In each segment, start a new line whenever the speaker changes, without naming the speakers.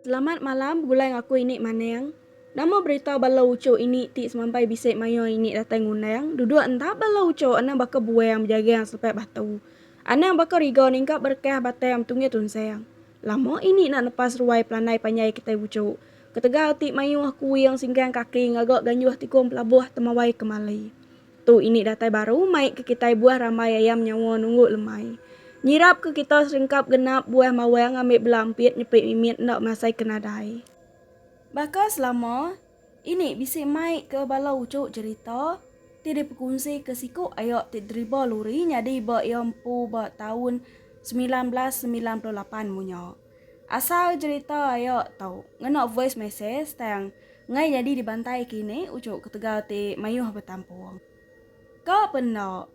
Selamat malam begulai enggau aku ini Maneng. Nama berita bala uchu ini ti semampai bisi mayuh ini datai ngundang duduk enda bala uchu anang baka buang bejagang selepai batu. Anang baka riga ningkap berekah batai am tunggih tunsang. Lama ini enda nepas ruai pelandai panjai kitai uchu. Ketegal ti mayuh kuing singkang kaki ngaga ganjuh tikung pelabuh temawai kemali. Tu ini datai baru mai ke kitai buah rambai ayam nyawa nunggu lemai. Nyirap ke kita seringkap genap buah mawang ambi bela ampit nyepi mimit enda masai ke nadai. Baka selama ini bisi mai ke bala uchu cherita ti dipekunsi ke siku aya ti driba luri nyadi ba iya empu ba taun semilan belas semilan puluh lapan munya. Asal jerita ayo tau ngena voice message tang ngai nyadi dibantai kini uchu ketegal ti mayuh betampung. Ka pe enda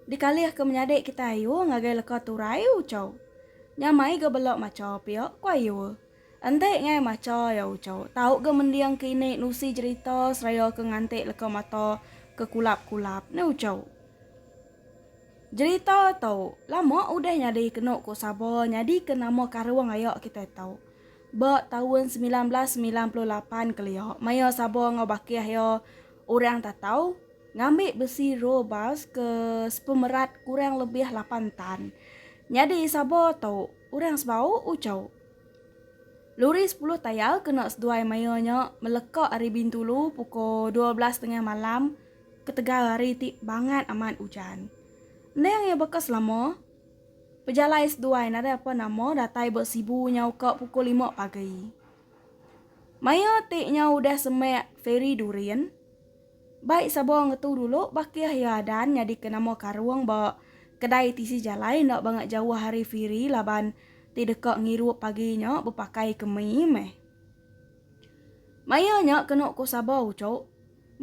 dikalih ke menyadi kitai ayu ngagai leka turai uchu. Nya mai ga bela macha pia ku ayu. Enti ngai macha iya uchu tau ga mending kini nusi jerita seraya ke nganti leka mata ke kulap-kulap ni uchu. Jerita tu lama udah nyadi kenu ku Saba nyadika nama karung aya kitai tu. Ba taun semilan belas semilan puluh lapan kelia maya Saba enggau bakih iya orang Tatau ngambi besi roll bars ke sepemerat kurang lebih lapan tan. Nyadi Saba tu orang sebau uchu. Luri sepuluh tayar kena seduai maya nya meleka ari Bintulu pukul dua belas tengah malam. Ketegal hari ti bangat amat ujan. Endang iya baka selama. Pejalai seduai nadai apa nama datai ba Sibu nyau ka pukul lima pagi. Maya ti nyau udah semak feri Durin. Bai sabar ngetu dulu bakih iya adan nyadika nama karung ba kedai tisi jalai enda banga jauh ari feri laban ti deka ngirup pagi nya bepakai kemi meh. Maya nya kenu ku sabar uchu.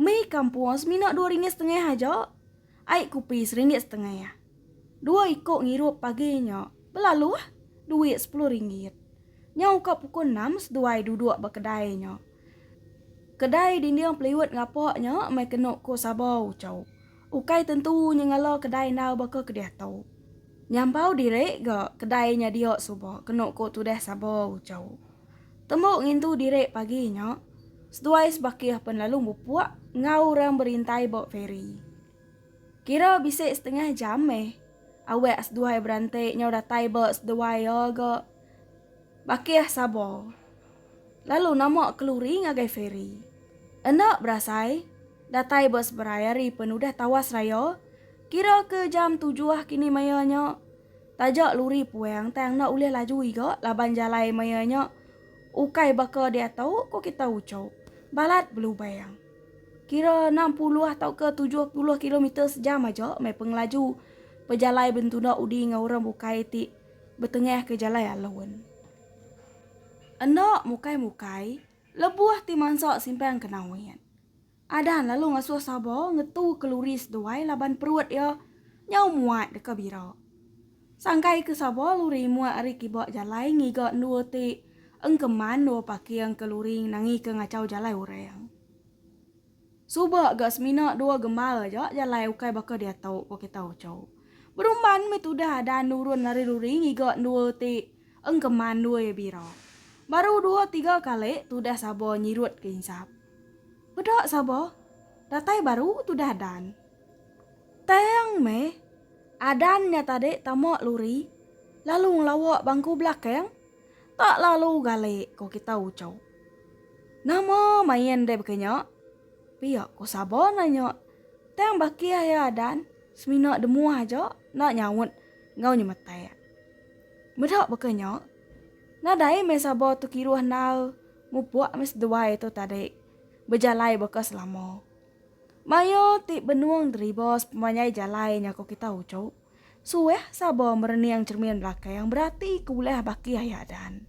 Mi kampung semina dua ringgit setengah aja. Ai kupi seringgit setengah. Dua iko ngirup pagi nya. Belalu ah. Duit sepuluh ringgit. Nyau ka pukul enam seduai duduk ba kedai nya. Kedai dinding peliut ngapa nya meh kenu ko Saba Uchau. Ukai tentu nyengala kedai endar baka ke diatu. Nyampau diri ga kedai nya dia suba kenu ko tudah Saba Uchau. Tembu ngintu diri pagi nya, seduai sebakih pen lalu bepuak enggau orang berintai ba feri. Kira bisi setengah jam meh awak seduai beranti nyau datai ba seduai iya ga Bakih Sabo lalu nama keluri ngagai feri. Enda berasai, datai ba seberai hari pen udah tawas raya, kira ke jam tujuh kini maya nya, Taja luri puang tang enda ulih laju iga laban jalai maya nya ukai baka diatu ko kita ucho balat belubang. Kira enam puluh tauka tujuh puluh kilometer sejam aja meh pengelaju pejalai bentuna udi enggau orang bukai ti betengah ke jalai alun. Enda mukai-mukai lebuh ti mansa simpang ke Nawin. Adan lalu ngasuh Sabo ngetu keluri seduai laban perut iya nyau muat deka bira. Sangkaika Sabo luri muat ari kiba jalai ngiga endur ti engkeman endur paking ke luri nangika ngachau jalai orang. Suba ga semina dua gembal aja jalai ukai baka diatu, ku kita Ocho. Berumban meh tudah Adan nurun lari luri ngiga endur ti engkeman endur iya bira. Baru dua tiga kali tudah Sabo nyirutka insap. Peda saba, datai baru tudah dan. Tang meh, adan nya tadi tama luri lalu ngelawa bangku belakang, tak lalu galik ko kita ucho. Nama main deh baka nya? pia ko saba nanya tang bakih iya adan semina demuh aja enda nyaut enggau nyemetak. Meda baka nya, Nadai meh sabo tu kiruh endar mupuk meh seduai tu tadi bejalai baka selama. Mayo ti benung deriba sepemanjai jalai nya ko kita uchu. Suah sabo merening cermin belakang berati ke ulah baki aya dan.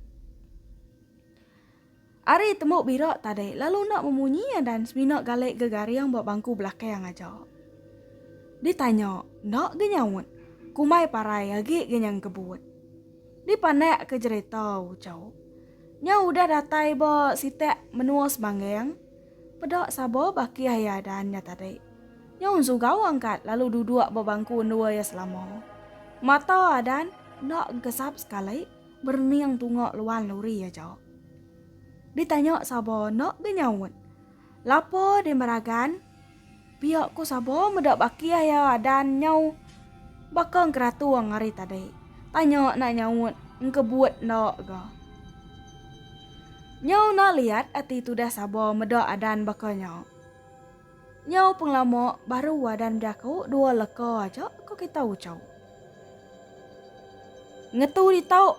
Ari tembu bira tadi lalu enda memunyi iya dan semina gali gegaring ba bangku belakang aja. Ditanya enda ge nyaut, kumbai parai agi ge nyang kebut. Dipandak ke jerita Ucau nya udah datai ba sitak menua Semanggang peda saba bakih iya dan nya tadi. Nya un Sugau angkat lalu duduk ba bangku endur iya selama. Mata Adan enda engkesap sekali. Berening tunga luan lori aja. Ditanya Sabo enda benyaut. Lapa deh meragan? Pia ku Sabo meda bakih iya adan nyau baka engkeratung ari tadi. Tanya enda nyaut, engkebut enda ga. Nyau enda liat ati tudah Sabo meda adan baka nya. Nyau pengelama baru Wadan bejaku dua leka aja ko kita ucau. Ngetu ditau.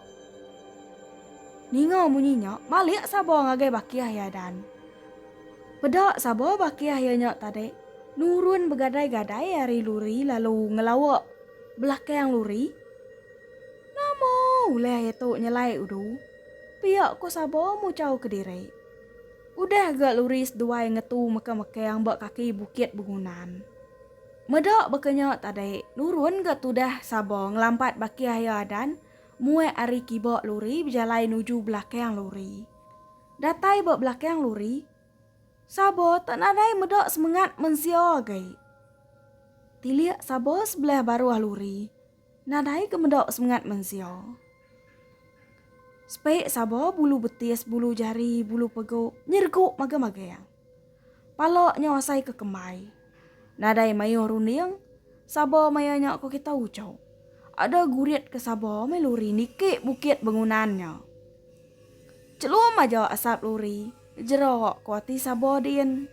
Ninga munyi nya, malik saba ngagai bakih iya Dan. Peda saba bakih iya nya tadi nurun begadai-gadai ari luri lalu ngelawa belakang luri. Nama ulih iya tu nyelai udu? Pia ko saba mucau kediri. Udah ga luris duai ngetu mekang-mekang ba kaki bukit begunan. Meda baka nya tadi, nurun ga tudah Saba ngelampat bakih iya Adan muat ari kiba luri bejalai nuju belakang luri. Datai ba belakang luri, Saba tak nadai meda semengat mensia agi. Tilik Saba sebelah baruh luri. Nadai ke meda semengat mensia. Sepek saba bulu betis, bulu jari, bulu pegu nyergu magang-magang. Pala nya asai ke kembai. Nadai mayuh runding, saba maya nya ko kita uchu. Ada gurit ke saba meh luri niki bukit bengunan nya. Celum aja asap luri, jera ko ati saba din.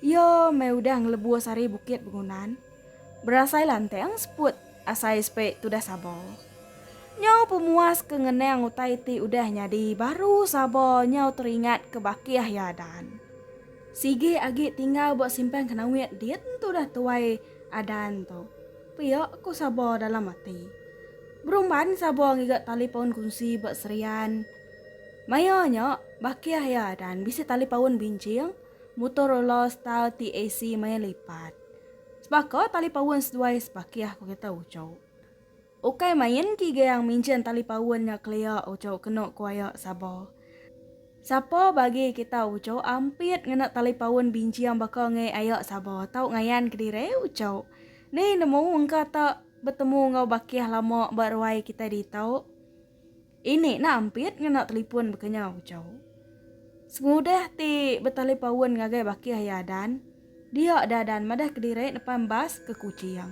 Iyo meh udah ngelebus ari bukit bengunan, berasai lanteng seput asai sepe tudah sabo. Nyau pemuas ke ngenang utai ti udah nyadi baru sabo nyau teringat ke bakih iya Adan. Sigi agi tinggal ba simpan kenawit din tudah tuai Adan tu. Pia ku sabo dalam ati. Berumban sabo ngiga talipon kunsi ba Serian. Maya nya, baki Aia Adan bisi tali paun binching Motorola style TAC maya lipat. Sebaka tali paun seduai sebakih ku kita uchu. Ukai main kigang minjin tali paun nya kelia uchu kenu ku Aia Saba. Sapa bagi kita uchu ampit ngena tali paun binching baka ngai Aia Saba tau ngayan kediri uchu. Ni nemu engka ta betemu enggau bakih lama ba ruai kita ditu. Ini nah ampit ngena telipun bekenyau ucau. Sengudah ti betalipaun ngagai bakih iya Adan, dia da Adan madah kediri nepan bas ke Kuching.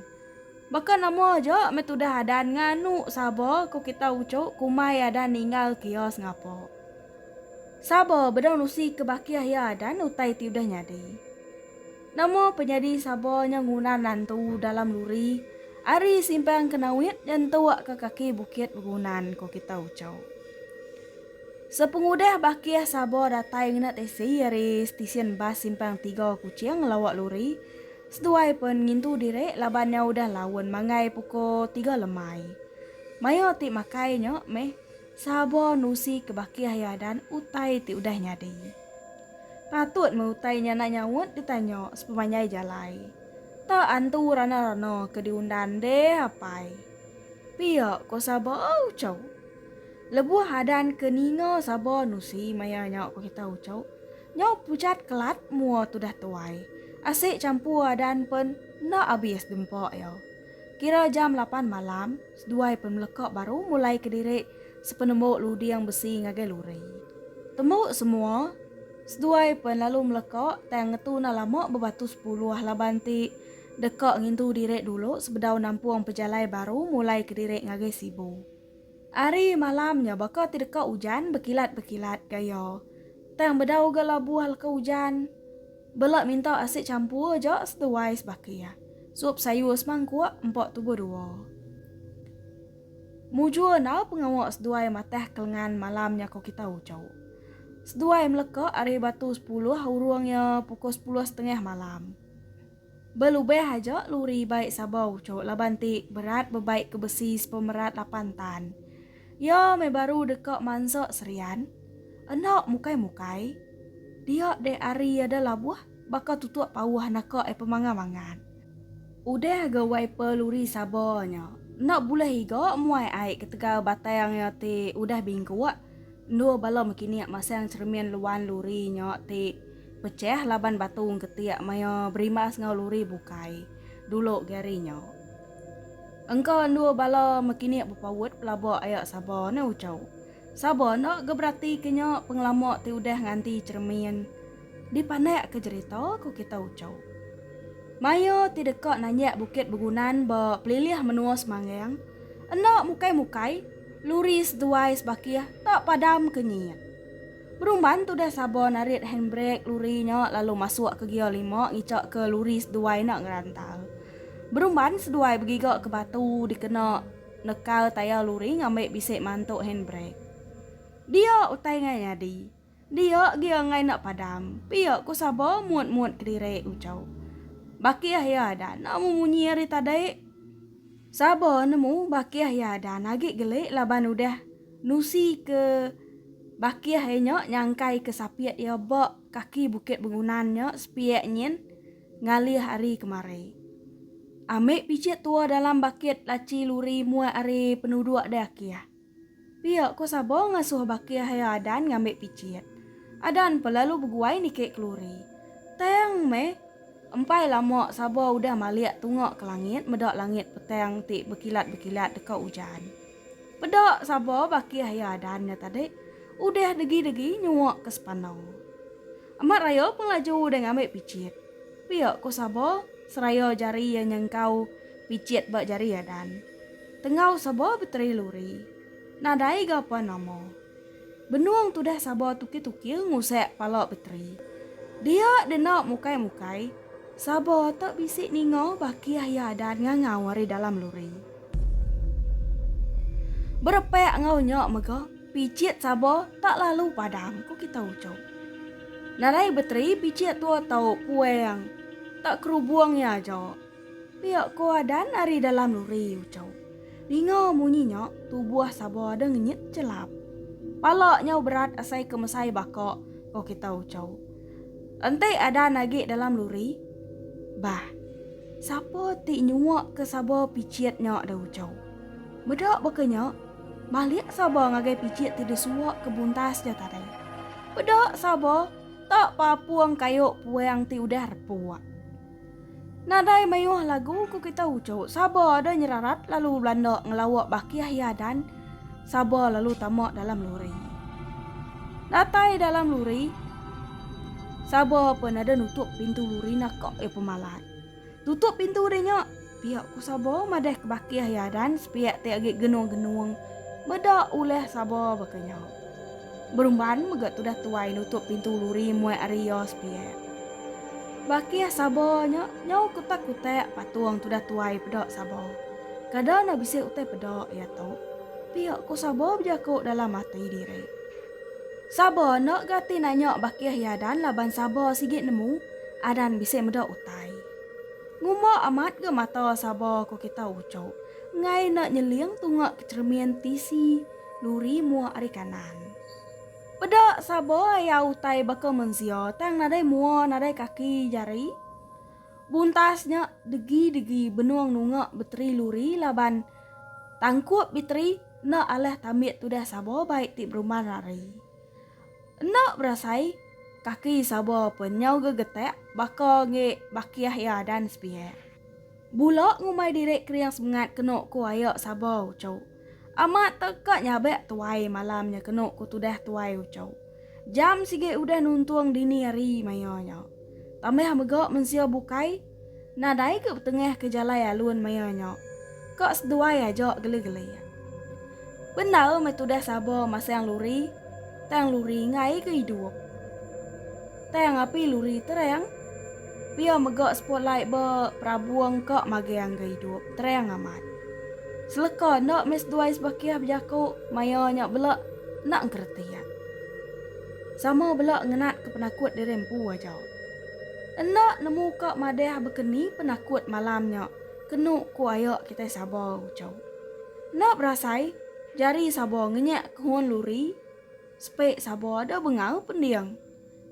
Baka nama aja meh tudah Adan nganu Saba ko kita ucu kumai Adan ninggal ke iya sengapa. Saba bedau nusi ke bakih iya Adan utai ti udah nyadi. Nama penyadi saba nya nguna nantu dalam luri ari simpang Kenawit nyentuk ke kaki Bukit Begunan ko kita Uchau. Sepengudah bakih saba datai ngena teksi ari stesen bas simpang tiga Kuching ngelawa luri, seduai pen ngintu diri laban nya udah laun manggai puko tiga lemai. Maioh ti makai nya meh. Sabo nusi ke baki ahi adan utai ti udah nyadi. Patut meh utai nya enda nyaut ditanya sepemanjai jalai. Ta antu rana-rana ke diundan deh apai. Pia ko Sabo Uchau. Lebuh adan ke ninga Sabo nusi maya nya ko kita Uchau. Nyau pujat kelat mua tudah tuai. Asik champur adan pen enda abis dempa iya. Kira jam lapan malam. Seduai pemeleka baru mulai kediri sepenemu luding besi ngagai luri. Tembu semua, seduai pen lalu meleka tang ngetu enda lama bebatu sepuluh laban ti deka ngintu diri dulu sebedau nampung pejalai baru mulai kediri ngagai Sibu. Ari malam nya baka ti deka ujan bekilat-bekilat gaya tang bedau ga labuh leka ujan. Bela minta asit champur aja seduai sebaka iya. Sup sayur semangkuk empa tubuh dua. Mujur enda pengawa seduai matah ke lengan malam nya ko kita uchu. Seduai meleka ari batu sepuluh urung iya pukul sepuluh setengah malam. Belubah aja luri bai Sabau uchu laban ti berat bebai ke besi sepemerat lapan tan. Iya meh baru deka mansa serian. Enda mukai-mukai. Dia deh ari iya da labuh baka tutuk pauh naka ai pemanga mangat. Udah ga wai pa luri saba nya. Enda bulih iga muai ai ketegal batang iya ti udah bingkuk. Endur bala mekinik masang cheremin luan luri nya ti pechah laban batung ketik maya berimbas enggau luri bukai. Dulu Gary nya. Engka endur bala mekinik bepaut pelaba aya saba ne ucau. Saba enda ga berati ke nya pengelama ti udah nganti cheremin dipandak ke jerita ku kita ucau. Maya ti deka nanjak Bukit Begunan ba pelilih menua Semangang, enda mukai-mukai luri seduai sebakih tak padam ke nyiit. Berumban tudah Sabo narit handbrek luri nya lalu masuk ke gear lima ngicha ke luri seduai enda ngerantal. Berumban seduai begiga ke batu dikena nekal tayar luri ngambi bisi mantu handbrek. Dia utai ngai nyadi. Dia gear ngai enda padam, pia ku Sabo mut-mut kediri uchu. Bakih iya adat enda memunyi ari tadi. Saba nemu bakih iya dan agi gelik laban udah nusi ke bakih iya nya nyangkai ke sapit iya ba kaki Bukit Bengunan nya sepiak nyin ngalih ari kemari. Amik pichit tua dalam bakit lachi luri muat ari penuduk deh akih. Pia ko Sabo ngasuh Baki Haya Adan ngambi pichit. Adan pa lalu beguai niki keluri. Tang meh! Empai lama Sabo udah malik tunga ke langit meda langit petang ti bekilat-bekilat deka ujan. Peda Sabo Baki Haya Adan nya tadi udah degi-degi nyua ke Sepano. Amat raya pun laju udah ngambi pichit. Pia ko Sabo seraya jari iya nyengkau pichit ba jari Adan. Tenggau saba beteri luri. Nadai ga pan nama. Benung tudah saba tukil-tukil ngusek pala beteri. Dia dena mukai-mukai, saba tak bisi ninga bakih iya adat ngangau ari dalam luri. Berepek enggau nya mega, picit saba tak lalu padam, ku kita ucup. Nadai beteri picit tua tau puang, tak kerubung iya aja. Pia ko Adan ari dalam luri ucau. Ninga munyi nya, tubuh Saba ada ngenyit chelap. Pala nyau berat asai ke mesai baka, ko kita ucau. Enti Adan agi dalam luri, bah. Sapa ti nyua ke Saba pichit nya da ucau. Meda baka nya, malik Saba ngagai pichit ti disua ke buntas ja tadi. Peda Saba tak papung kayu puang ti udah repuk. Nadai mayuh lagu ku kita uchu Saba ada nyerarat lalu belanda ngelawa baki ahi adan Saba lalu tama dalam lori Datai dalam lori Saba pen ada nutup pintu lori naka iya pemalat Tutup pintu deh nya Pia ku Sabo madah ke baki ahi Adan sepia ti agi genung-genung meda ulah Sabo baka nyau. Berumban mega tudah tuai nutup pintu luri muai ari iya sepia. Baki ah Sabo nya nyau kutak-kutak patung tudah tuai peda Sabo. Kada enda bisi utai peda iya tu. Pia ku Sabo bejaku dalam ati diri. Sabo enda gati nanya baki ahi Adan laban Sabo sigi nemu Adan bisi meda utai. Ngumba amat ga mata saba ko kita uco enggai enda nyeling tunga ke cermin tisi luri mua ari kanan. Peda saba iya utai baka mensia tang nadai mua nadai kaki jari. Buntas nya degi degi benung nunga beteri luri laban tangkup biteri enda alah tambit tudah saba bai ti berumban ari. Enda berasai, kaki Saba pun nyau gegetak baka engi bakiah iya dan sepihak. Bula ngumbai diri kering semengat kenu ku aya Saba uchu. Amat teka nyabak tuai malam nya kenu ku tudah tuai uchu. Jam sigi udah nuntung dini hari maya nya. Tambah mega mensia bukai. Nadai ke betengah ke jalai alun maya nya. Ka seduai aja geli-geli. Bendar meh tudah sabar masang luri, tang luri enggai ke idup. Tang api luri terang. Pia mega spotlight ba perabung ka magang ga idup terang amat. Seleka enda meh seduai sebakih bejaku maya nya bela enda engkeretik. Sama bela ngenat ke penakut diri empu aja. Enda nemu ka madah bekeni penakut malam nya kenu ku aya kitai Saba Uchau. Enda berasai jari Saba ngenyak kehun luri sepe Saba ada bengau pending.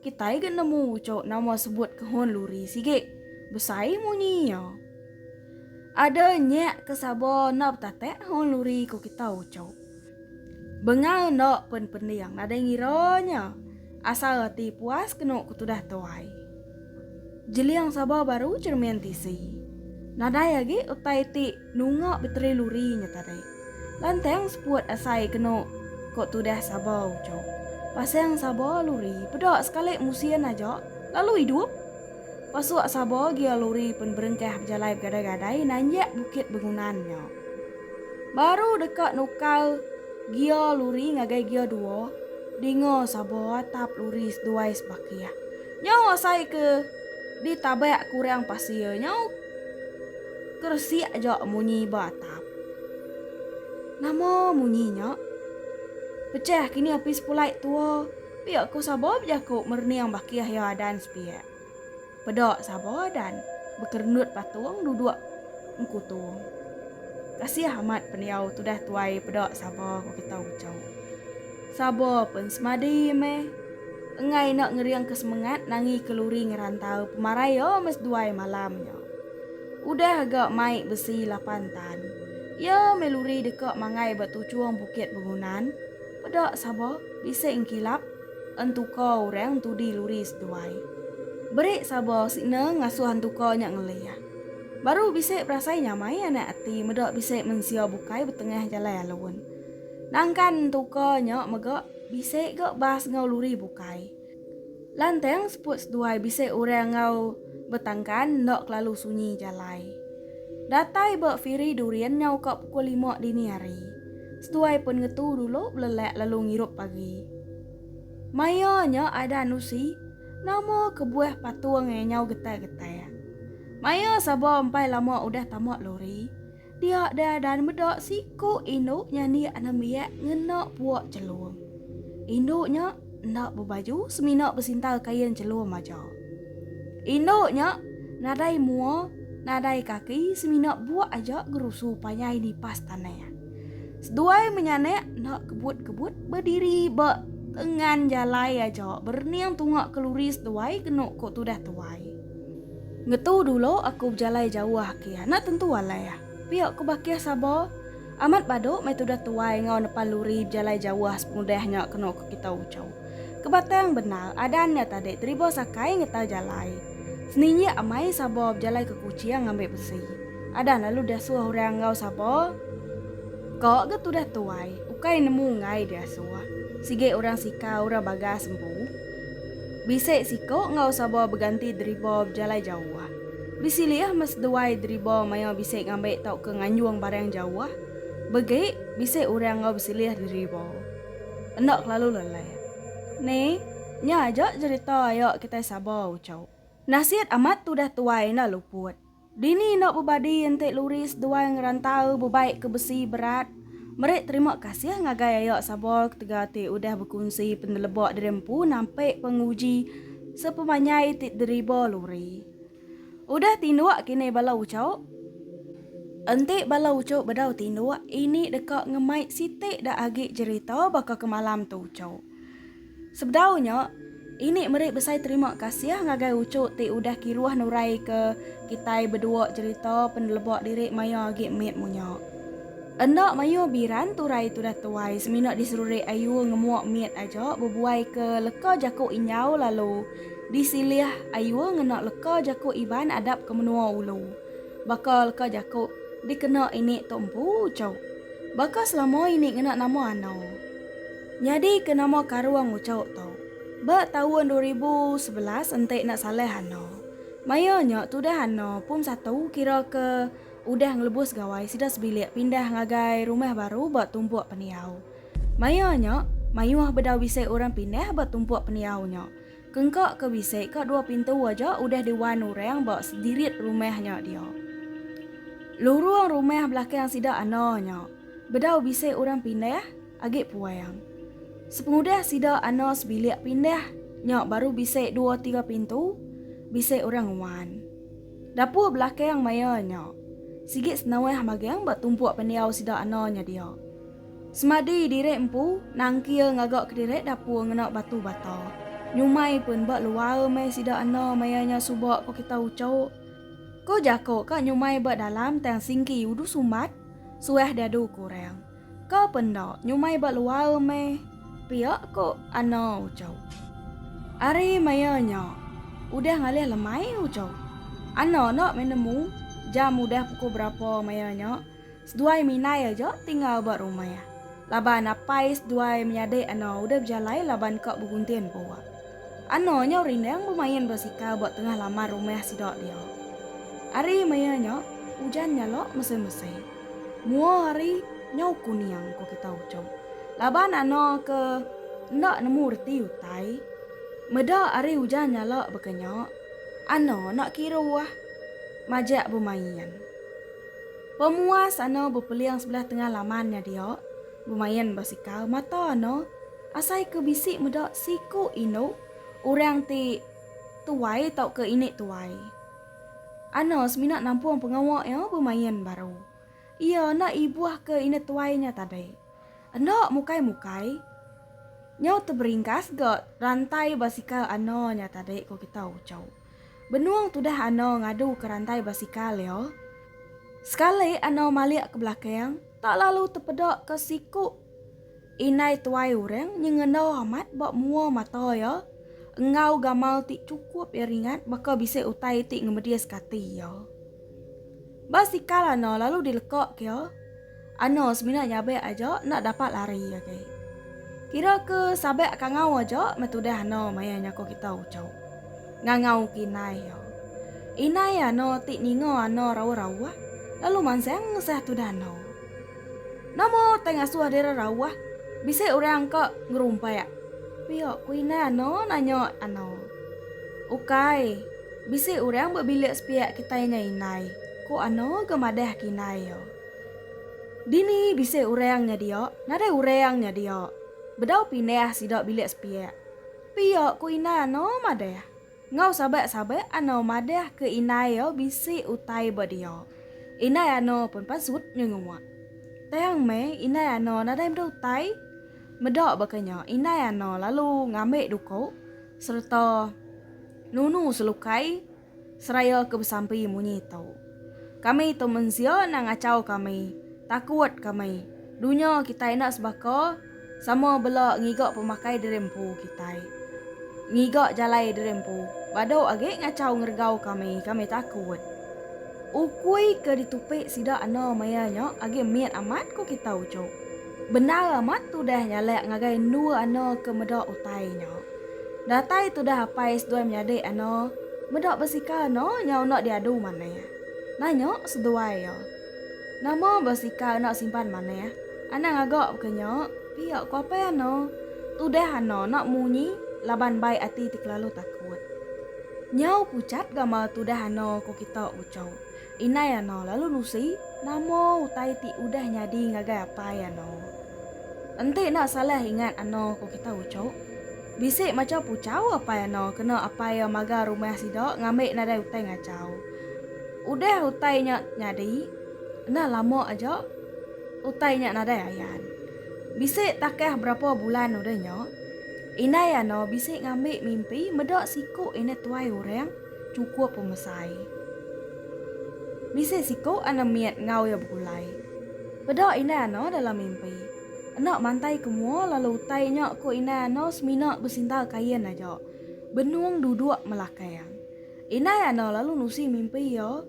Kitai ga nemu uco nama sebut kehun luri sigi besai munyi iya. Ada nyak ke Saba enda betatak kehun luri ku kita Uchau. Bengal enda pen pending nadai ngira nya asal ati puas kenu ku tudah tuai. Jeling saba baru cermin tisi. Nadai agi utai ti nunga beteri luri nya tadi. Lantang seput asai kenu ku tudah saba uchup. Pasang saba luri peda sekali musin aja lalu idup. Pasuk sabo gia luri pen berengkah bejalai begadai-gadai nanjak bukit bengunan nya. Baru deka nukar gia luri ngagai gia dua, dinga sabo atap luri seduai sebakih. Nyau asai ke ditabak kurang pasir nyau keresik aja munyi ba atap. Nama munyi nya? Pecah kini opis pulai tua. Pia ko Sabo bejaku merening baki Ahi Adan sepiak. Peda Sabo Adan bekerendut patung duduk engkutung. Kasih amat pendiau tudah tuai peda Sabo ko kita Ucau. Sabo pun semadi meh engai enda ngering ke semengat nangi ke luri ngerantau pemarai yo mes duai malam nya. Udah aga mai besi lapan tan. Iya meh luri deka mangai ba tuchung bukit bengunan. Peda saba bisi engkilap entuka orang entudi luri seduai. Beri saba sina ngasuh entuka nya ngelih. Baru bisi berasai nyamai anak ati meda bisi mensia bukai betengah jalai alun. Nangkan entuka nya mega bisi ga bas enggau luri bukai. Lantang seput seduai bisi orang enggau betangkan enda kelalu sunyi jalai. Datai ba Firi Durian nyau ka pukul lima dini hari. Seduai pen ngetu dulu belelak lalu ngirup pagi. Maya nya Adan Usi nama kebuah patung nyau getai-getai. Maya Saba empai lama udah tama lori. Dia dai dan meda siku indu nya niak nembiak ngena puak chelum. Indu nya enda bebaju semina besintal kain chelum aja. Indu nya nadai mua, nadai kaki semina buak aja gerusu panjai nipas tanah. Seduai menyanak enda kebut-kebut bediri ba tengan jalai aja berening tunga keluri seduai kenu ko tudah tuai. Ngetu dulu aku bejalai jauh agi. Anak tentu alai. Pia ku Bakih saba. Amat badu meh tudah tuai enggau nepan luri bejalai jauh sepengudah nya kenu ke kita uchu. Kebatang bendar adan nya tadi teriba sakai ngetar jalai. Seninjik amai saba bejalai ke Kuching ngambi besi. Adan lalu diasuh orang enggau saba ka ga tudah tuai ukai nemu enggai diasuh. Sigi orang sika orang bagas empu. Bisi siku enggau Sabor beganti deriba bejalai jauh. Bisi lih meh seduai deriba maya bisi ngambi tauka nganjung barang jauh. Begi bisi orang enggau bisi lih deriba. Enda kelalu leleh. Ni, nya aja jerita aya kitai Sabor, ucau. Nasit amat tudah tuai enda luput. Dini enda bebadi enti Luris duai ngerantau bebai ke besi berat. Meri terima kasih ngagai aya Sabor ketegal ti udah bekunsi peneleba diri empu nampik penguji sepemanjai ti deriba Luri. Udah tinduk kini bala uchup? Enti bala uchup bedau tinduk, ini deka ngemai siti da agi jerita baka ke malam tu uchup. Sebedau nya, ini meri besai terima kasih ngagai Ucu ti udah kiruh nuraika kitai bedua jerita peneleba diri maya agi mit munya. Enda mayuh biran turai tudah tuai semina diserurik Ayu ngemuk mit aja bebuaika leka jaku Injau lalu disilih Ayu ngena leka jaku Iban adap ke menua ulu. Baka leka jaku dikena ini tu empu Ucu. Baka selama ini ngena nama Anau. Nyadi ke nama Karung Nguchok tu. Ba taun dua ribu sebelas enti enda salah ano. Maya nya tudah ano pun satu kira ke udah ngelebus gawai sida sebilik pindah ngagai rumah baru ba tumpuk pendiau. Maya nya mayuh bedau bisi orang pindah ba tumpuk pendiau nya. Kengka ke bisi ka dua pintu aja udah di wan orang ba sedirit rumah nya dia. Lurung rumah belakang sida ano nya bedau bisi orang pindah Agi puang. Sepengudah sida ana sebilik pindah nya baru bisi dua tiga pintu bisi orang nguan. Dapur belakang maya nya sigi senauh magang ba tumpuk pendiau sida ana nya dia. Semadi diri empu nangkir ngaga kediri dapur ngena batu bata. Nyumai pun ba luar meh sida ana maya nya suba ko kita ucuk. Ko jaku ka nyumai ba dalam tang singki udu sumbat suah diadu ke orang. Ka pe enda nyumai ba luar meh pia ko Ana ucau. Ari maya nya udah ngalih lemai ucau Ana enda meh nemu jam udah pukul berapa maya nya seduai minai aja ti enggau ba rumah laban apai seduai menyadi Ana udah bejalai laban ka beguntin pua. Ana nyau rindang bemain basikal ba tengah laman rumah sida dia. Ari maya nya ujan nyala mesai-mesai. Mua hari nyau kuning ko kita ucok. Laban ano ke enda nemu reti utai. Meda hari ujan nyala baka nya, ano enda kiru ah majak bemain. Pemuas ano bepeling sebelah tengah laman nya dia bemain basikal mata ano asai ke bisi meda siku indu orang ti tuai tauka ini tuai. Anna semina nampung pengawa iya bemain baru. Iya enda ibuh ke indah tuai nya tadi. Enda mukai-mukai, nyau teberingkas ga rantai basikal Anna nya tadi, ku kita uchu. Benung tudah Anna ngadu ke rantai basikal iya, sekali Anna malik ke belakang tak lalu tepeda ke siku. Indai tuai orang nyengenda amat ba mua mata iya enggau gamal ti chukup iya ringat baka bisi utai ti ngemedis kati iya. Ba sikal Anna lalu dileka ke iya, Anna semina nyabek aja enda dapat lari agi. Kira ke sabak kangau aja meh tudah Anna maya nyako kita uchu. Ngangau ke indai iya. Indai Anna ti ninga Anna rauh-rauh lalu mansang ngesah tudah Anna. Nama utai ngasuh diri rauh? Bisi orang ka ngerumpak. Pia ku indai Ana nanya Ana. Ukai. Bisi orang ba bilik sepiak kitai nya indai, ku Ana ga madah ke indai iya. Dini bisi orang nya dia? Nadai orang nya dia. Bedau pindah sida bilik sepiak. Pia ku indai Ana madah. Enggau sabak-sabak Anor madah ke indai iya bisi utai ba dia. Indai Anor pun pasut nyengua. Tang meh indai Anor nadai meda utai. Meda baka nya indai Anor lalu ngambi duko sereta nunu selukai seraya ke besampi munyi tu. Kami tu mensia enda ngachau kami, takut kami. Dunya kitai enda sebaka. Sama bela ngiga pemakai diri empu kitai. Ngiga jalai diri empu badu agi ngachau ngeregau kami, kami takut. Ukui ke ditupi sida enda maya nya agi mit amat ku kita uchu. Bendar amat tudah nyalak ngagai endua ana ke meda utai nya. Datai tudah apai seduai menyadi ana meda besikal enda nyau enda diadu manah, nanya seduai iya. Nama ba sika enda simpan manah. Anang ngaga baka nya, pia ku apai Ana. Tudah Ana enda munyi laban bai ati ti kelalu takut. Nyau pucat gamal tudah Ana ku kita uco. Indai Ana lalu nusi nama utai ti udah nyadi ngagai apai Ana. Enti enda salah ingat Ana ku kita uco, bisi macha puchau apai Ana kena apai iya maga rumah sida ngambi nadai utai ngachau. Udah utai nya nyadi, enda lama aja utai nya nadai ayan. Bisi takah berapa bulan udah nya, indai Ano bisi ngambi mimpi meda siku indah tuai orang chukup pemesai. Bisi siku Ano mit enggau iya begulai. Peda indai Ano dalam mimpi. Enda mantai ke mua lalu utai nya ku indai Ano semina besintal kain aja, benung duduk melakang. Indai Ano lalu nusi mimpi iya.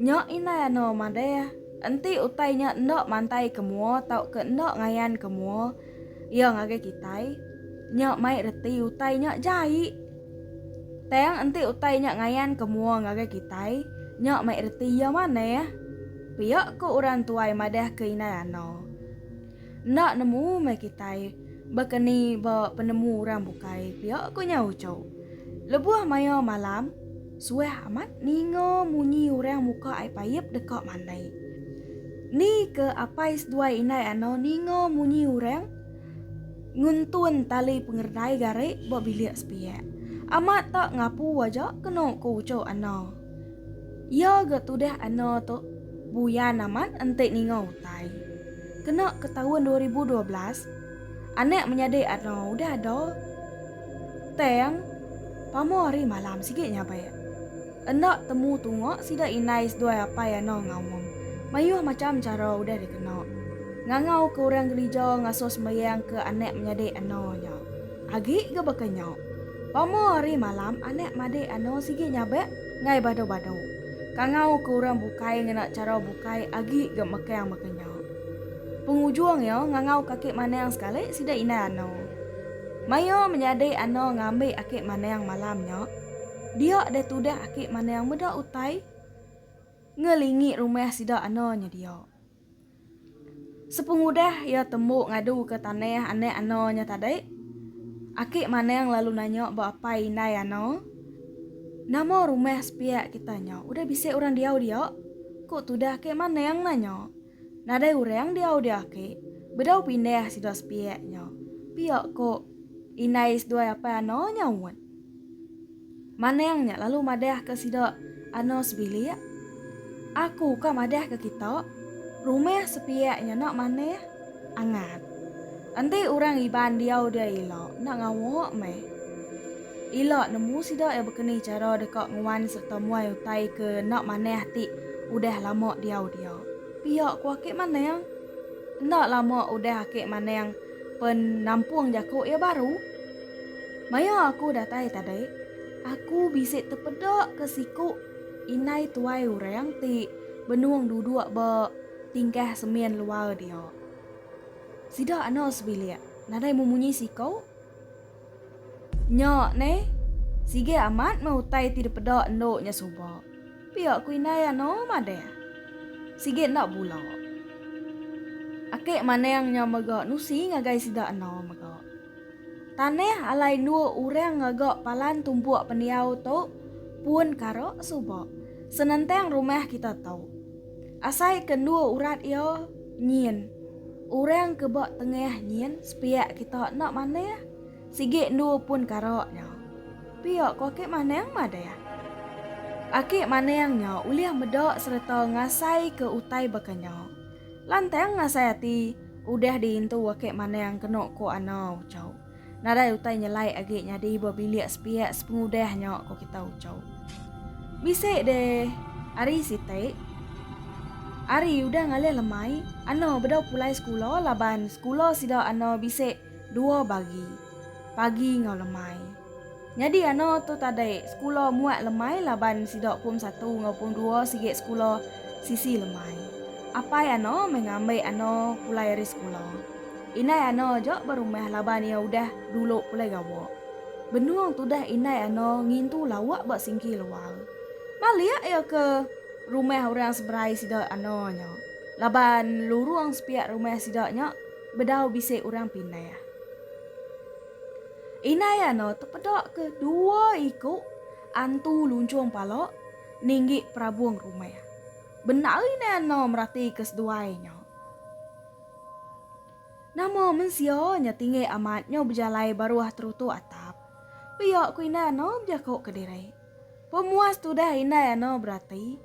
Nya Indai Ano madah, enti utai nya enda mantai ke mua tauka enda ngayan ke mua iya ngagai kitai, nya mai reti utai nya jai. Tang enti utai nya ngayan ke mua ngagai kitai, nya mai reti iya manah, pia ku orang tuai madah ke Indai Ano. Enda nemu meh kitai baka ni ba penemu orang bukai pia ku nya Ucho. Lebuh maya malam, suah amat ninga munyi orang muka ai payap deka mandai. Ni ke apai seduai indai Ano ninga munyi orang nguntun tali pengeredai gari ba bilik sepiak. Amat tak ngapu aja kenu ku Ucho Ano. Iya ga tudah ana tu buyan amat enti ninga utai. Kena ke taun dua ribu dua belas, anak menyadi ana udah ada tang pama hari malam sigi nyabak. Enda temu tunga sida indai seduai apai ana ngaum. Mayuh macham chara udah dikena. Ngangau ke orang gerija ngasuh sembayang ke anak menyadi ana nya. Agi ga baka nya. Pamo ari malam anak madik ano sigi nyabak ngai bado-bado. Kangau ke orang bukai ngena chara bukai agi ga mekang baka nya. Pengujung iya ngangau kaki manang sekali sida indai ano. Mayo menyadi ano ngambi aki manang malam nya. Dia deh tudah aki manang meda utai ngelingi rumah sida ano nyedia. Sepengudah iya tembu ngaduka tanah anak Ano nya tadi, Aki Manang lalu nanya ba apai indai Ano, Nama rumah sepiak kita nya udah bisi orang diau dia? Ku tudah Aki Manang nanya. Nadai orang diau dia Aki. Bedau pindah sida sepiak nya, pia ku indai seduai apai Ano nyaut. Manang nya lalu madahka sida, Ano sebilik? Aku ka madahka kita, rumah sepiak nya enda manah, angat. Enti orang Iban diau dia ila enda ngawa meh. Ila nemu sida iya bekeni chara deka nguan sereta muai utai ke enda manah ti udah lama diau dia. Pia ku Akik Manang. Enda lama udah Akik Manang pen nampung jaku iya baru. Maya aku datai tadi, aku bisi tepeda ke siku indai tuai orang ti benung duduk ba tingkah semin luar dia. Sida anu sebilik nadai memunyi siku. Nya ne, sigi amat meh utai ti dipeda endu nya suba. Pia ku indai anu madah. Sigi enda bula. Ake manang nya mega nusi ngagai sida anu mega. Tanah alai endu orang ngaga palan tumpuk pendiau tu pun kara suba senentang rumah kita tu. Asai ke endu urat iya nyin orang ke ba tengah nyin sepiak kita enda manah sigi endu pun kara nya. Pia ko Aki Manang madah. Aki Manang nya ulih meda sereta ngasai ke utai baka nya. Lantang ngasai ati. Udah diintu wake manang keno ko ano uco. Nadai utai nyelai agi nyadi ba bilik sepiak sepengudah nyo ko kita uco. Bisi deh ari siti. Ari udah ngalih lemai, ano bedau pulai sekula laban sekula sida ano bisi dua bagi, pagi enggau lemai. Nyadi ano tu tadai sekula muat lemai laban sida pom satu enggau pom dua sigi sekula sisi lemai. Apai ano meh ngambi ano pulai ari sekula. Indai ano aja ba rumah laban iya udah dulu pulai gawa. Benung tudah indai ano ngintu lawa ba singki luar. Balik iya ke rumah orang seberai sida ano nya laban lurung sepiak rumah sida nya bedau bisi orang pindah. Indai Anor tepeda ke dua iku antu lunchung pala ninggi perabung rumah. Bendar Indai Anor merati ke seduai nya. Nama mensia nya tinggi amat nyau bejalai baruh terutuk atap. Pia ku Indai Anor bejako kediri. Pemuas tudah Indai Anor berati.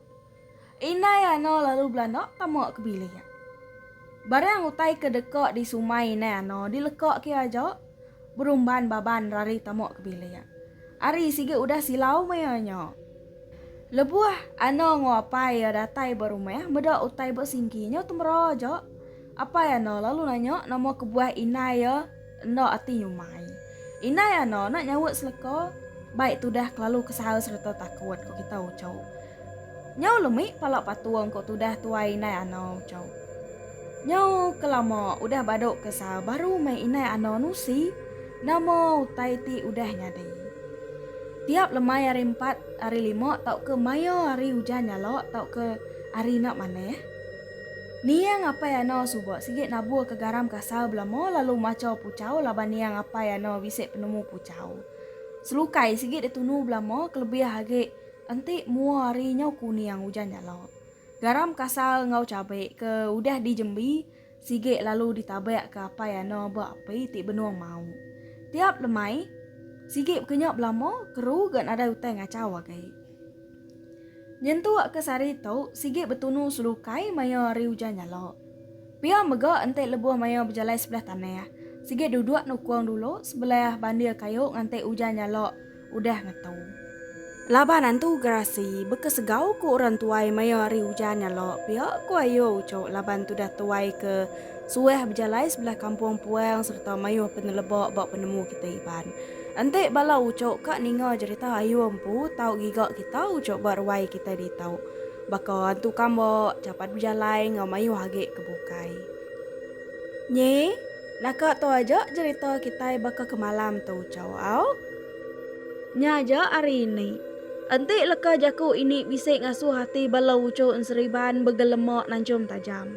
Indai Ano lalu belanda tama ke bilik. Barang utai ke deka disumai indai Ano dileka kia aja Berumban Baban rari tama ke bilik. Ari sigi udah silau maya nya. Lebuh Ano enggau apai iya datai ba rumah meda utai ba singki nya temera aja. Apai Ano lalu nanya nama kebuah indai iya. Enda ati nyumai. Indai Ano nak nyaut seleka, Baik tudah kelalu kesal sereta takut, ku kita Ucau. Nyau lemi pala patung, ku tudah tuai Indai Ano, Ucau. Nyau ke lama udah badu kesal baru meh Indai Ano nusi nama utai ti udah nyadi. Tiap lemai hari empat, hari lima tauka maya hari ujan nyala tauka hari enda manah, Niang Apai Ano suba sigi naburka garam kasar belama lalu macha puchau laban Niang Apai Ano bisi penemu puchau. Selukai sigi ditunu belama kelebih agi enti mua hari nyau ku Niang Ujan Jala. Garam kasar enggau cabe ke udah dijembi sigi lalu ditabakka Apai Ano ba api ti benung mau. Tiap lemai, sigi bekenya belama keru ga nadai utai ngachau agi. Nyentuk ke sehari tu, sigi betunu selukai maya hari ujan nyala. Pia mega enti lebuh maya bejalai sebelah tanah, sigi duduk nukung dulu sebelah bandir kayu nganti ujan nyala udah ngetu. Laban antu gerasi bekesegau ku orang tuai maya hari ujan nyala pia ku Ayu uchu laban tudah tuai ke suah bejalai sebelah kampung puang sereta mayuh peneleba ba penemu kitai Iban. Enti bala ucuk ka ninga jerita Ayu Empu tau giga kita ucuk ba ruai kitai ditau. Baka antu kamba, capat bejalai enggau mayuh agi ke bukai. Nyi, naka tu aja jerita kitai baka ke malam tu ucuk au. Nya aja ari ini. Enti leka jaku ini bisi ngasuh ati bala ucuk enseriban begelema nanchum tajam.